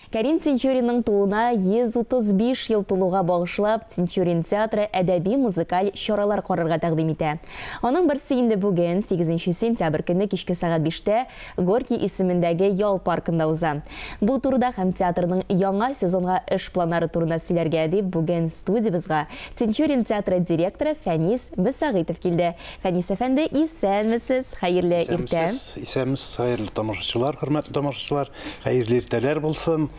Кәрим Тинчуринның тууына 135 ел тулуга багышлап Тинчурин театры әдәби-музыкаль чаралар карарга тәкъдим итә. Аның берсе инде бүген, 8 сентябрь көнне кичке сәгать биштә Горький исемендәге ял паркында уза. Бу турыда һәм театрның яңа сезонга эш планнары турында сөйләргә дип бүген студиябезга Тинчурин театры директоры Фәнис Мөсәгыйтов килде. Фәнис әфәнде, исәнмесез, хәерле иртә! Исәнмесез, исәнмесез, хәерле тамашачылар, хөрмәтле тамашачылар! Хәерле иртәләр булсын.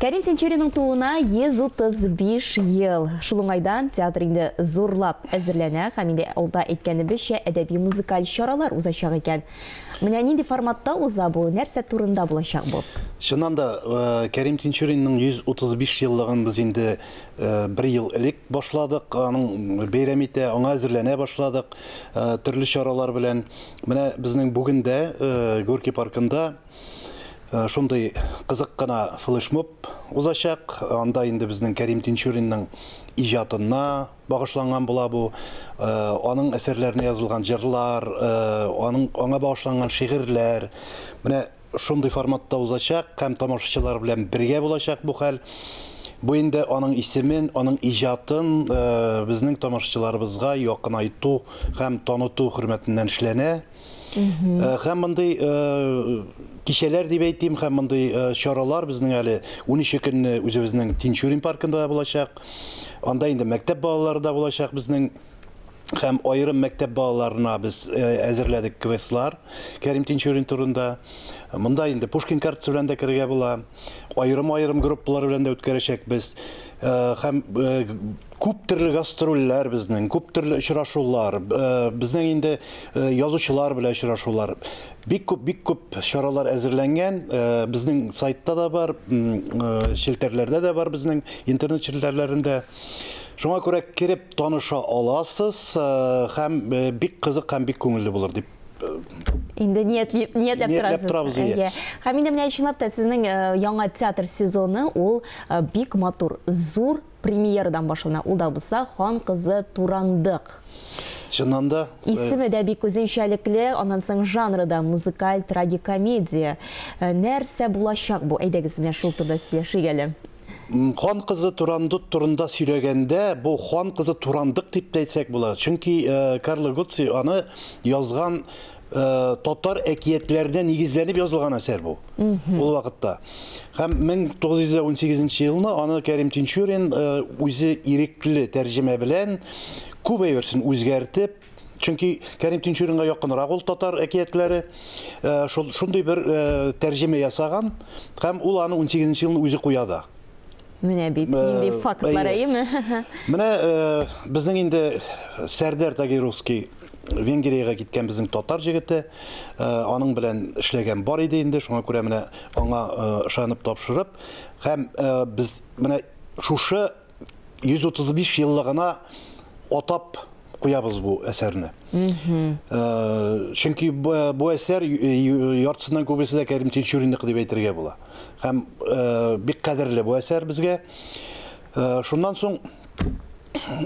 Кәрим Тинчуринның тууына 135 ел. Шул уңайдан театр инде зурлап әзерләнә һәм инде алда әйткәнебезчә әдәби-музыкаль чаралар узачак икән. Менә нинди форматта уза бу, нәрсә турында булачак бу? Чыннан да, Кәрим Тинчуринның 135 еллыгын без инде бер ел элек башладык, аның бәйрәм итә, аңа әзерләнә башладык төрле чаралар белән. Менә безнең бүген дә Горький паркында э, шундый кызык кына флешмоб узачак. Анда инде безнең Кәрим Тинчуринның иҗатына багышланган була бу. Э, аның әсәрләренә язылган җырлар, э, аның аңа багышланган шигырьләр. Менә шундый форматта узачак һәм тамашачылар белән бергә булачак бу хәл. Бу инде аның исемен, аның иҗатын э, безнең тамашачыларыбызга якынайту һәм таныту хөрмәтеннән эшләнә. Э, һәм мондый э, кичәләр дип әйтим һәм мондый э, чаралар безнең әле 13 көнне үзебезнең Тинчурин паркында булачак. Анда инде мәктәп балалары да булачак безнең һәм аерым мәктәп балаларына без әзерләдек квестлар Кәрим Тинчурин турында. Монда инде Пушкин картасы белән дә керергә була. Аерым-аерым группалар белән дә үткәрәчәкбез. Һәм Күп төрле гастрольләр безнең, күп төрле очрашулар, безнең инде язучылар белән очрашулар. Бик күп, бик күп чаралар әзерләнгән. Безнең сайтта да бар, челтәрләрдә дә бар безнең интернет челтәрләрендә. Шуңа күрә кереп таныша аласыз һәм бик кызык һәм бик күңелле булыр дип инде ниятли ниятләп торасыз. Торабыз, иә. Һәм инде менә чынлап та сезнең яңа театр сезоны ул бик матур, зур премьерадан башлана. Ул да булса Хан кызы Турандык. Чыннан да. Э, Исеме дә бик үзенчәлекле, аннан соң жанры да музыкаль трагикомедия. Э, нәрсә булачак бу? Әйдәгез менә шул турыда сөйләшик әле. Хан кызы Турандык турында сөйләгәндә, бу хан кызы Турандык дип тәйтсәк була. Чөнки э, Карло Гуци аны язган Э, татар әкиятләренә нигезләнеп язылган әсәр бу ул вакытта һәм 1918 елны аны кәрим тинчурин э, үзе ирекле тәрҗемә белән күп әйберсен үзгәртеп чөнки кәрим тинчуринга якынрак ул татар әкиятләре э, шундый бер тәрҗемә ясаган һәм ул аны 18 елны үзе куя да Менә бит, нинди фактлар, әйеме? Менә безнең инде Сәрдәр Тагировский Венгриягә киткән безнең татар җегете, аның белән эшләгән бар иде инде, шуңа күрә менә аңа ышанып тапшырып, һәм без менә шушы 135 еллыгына атап куябыз бу әсәрне. Чөнки бу әсәр яртысыннан күбесе дә Кәрим Тинчуринныкы дип әйтергә була. Һәм бик кадерле бу әсәр безгә. Шуннан соң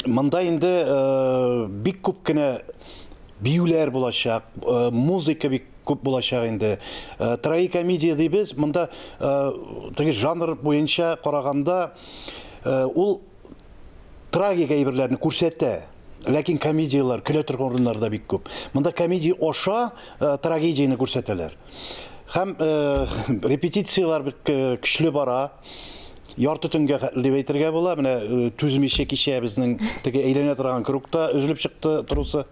монда инде бик күп кенә биюләр булачак, музыка бик күп булачак инде. Трагикомедия дибез, монда теге жанр буенча караганда ул трагик әйберләрне күрсәтә. Ләкин комедияләр көлә торган урыннар да бик күп. Монда комедия аша э, трагедияне күрсәтәләр. Һәм э, репетицияләр бик э, көчле бара. Ярты төнгә хәтле дип әйтергә була. Менә э, түзмичә кичә безнең теге әйләнә торган кругта өзелеп чыкты трусы.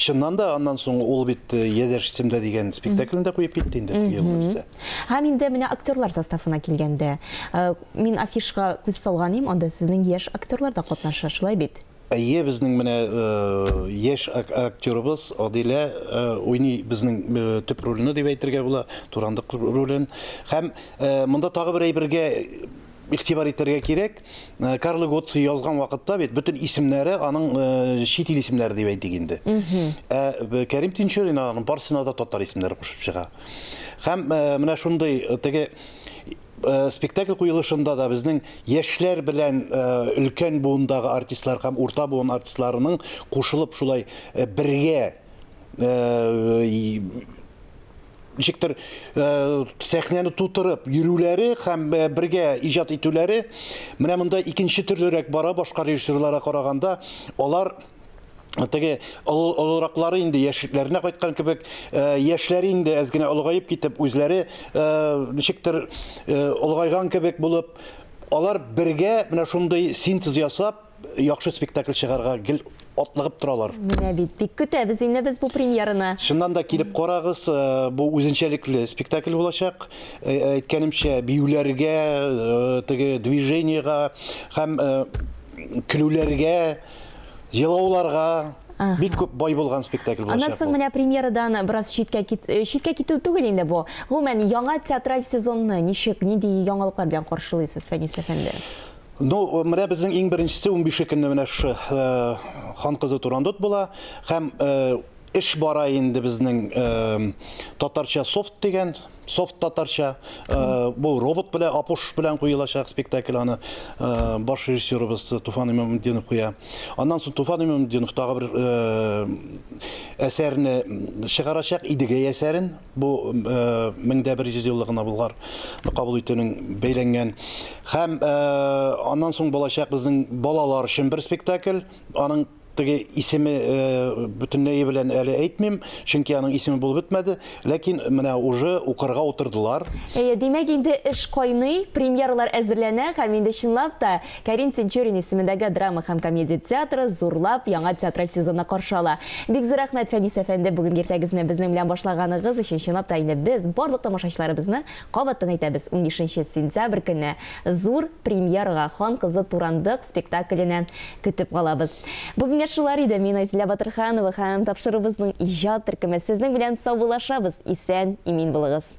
Чыннан да аннан соң ул бит э, Ядерш Семда дигән спектаклен дә куеп китте инде теге елны бездә. Һәм инде менә актерлар составына килгәндә, э, мин афишга күз салган идем, анда сезнең яшь актерлар да катнаша, шулай бит? Әйе, безнең менә э, яшь ак- актерыбыз Адилә э, уйный безнең э, төп рольне дип әйтергә була, Турандык ролен. Һәм э, монда тагы бер әйбергә игътибар итәргә кирәк. Э, Карлы Готцы язган вакытта бит бөтен исемнәре аның э, чит ил исемнәре дип әйтик инде. Ә э, Кәрим Тинчурин аның барсына да татар исемнәре кушып чыга. Һәм менә шундый теге спектакль куелышында да безнең яшьләр белән өлкән буындагы артистлар һәм урта буын артистларының кушылып шулай бергә ничектер сәхнәне тутырып йөрүләре һәм бергә иҗат итүләре менә монда икенче төрлерәк бара башка режиссерларга караганда алар теге олыраклары инде яшьлекләренә кайткан кебек э, яшьләре инде әз генә олыгаеп китеп үзләре э, ничектер э, олыгайган кебек булып алар бергә менә шундый синтез ясап яхшы спектакль чыгарга гел атлыгып торалар. Менә бит, бик көтәбез инде без бу премьераны. Чыннан да килеп карагыз, э, бу үзенчәлекле спектакль булачак. Э, әйткәнемчә, биюләргә, э, теге движениега һәм көлүләргә, елауларга бик күп бай булган спектакль булачак. Аннан соң менә премьерадан бераз читкә кит, э, читкә китү түгел инде бу. Гомумән, яңа театраль сезонны ничек, нинди яңалыклар белән каршылыйсыз, Фәнис әфәнде? Ну, менә безнең иң беренчесе 15 көнне менә шы э, хан кызы Турандот була һәм э, эш бара инде безнең э, татарча софт дигән софт татарча э, бу робот белән апуш белән куелачак спектакль аны э, баш режиссерыбыз Туфан Имамутдинов куя. Аннан соң Туфан Имамутдинов тагы бер э, әсәрне чыгарачак Идегәй әсәрен бу мең дә бер йөз еллыгына Болгар кабул итүнең бәйләнгән. Һәм аннан соң булачак безнең балалар өчен бер спектакль. Аның теге исеме бөтенләй белән әле әйтмим, чөнки аның исеме булып бетмәде, ләкин менә уже укырга утырдылар. Әйе, димәк, инде эш кайный, премьералар әзерләнә һәм инде чынлап та Кәрим Тинчурин исемендәге драма һәм комедия театры зурлап яңа театраль сезонны каршы ала. Бик зур рәхмәт, Фәнис әфәнде, бүгенге иртәгезне безнең белән башлаганыгыз өчен. Чынлап та инде, без барлык тамашачыларыбызны кабаттан әйтәбез, унбишенче сентябрь көнне зур премьерага, Хан кызы Турандык спектакленә көтеп калабыз. Бүгенгә шулар иде. Мин Айзилә Батырханова һәм тапшыруыбызның иҗат төркеме сезнең белән саубуллашабыз. Исән, имин булыгыз!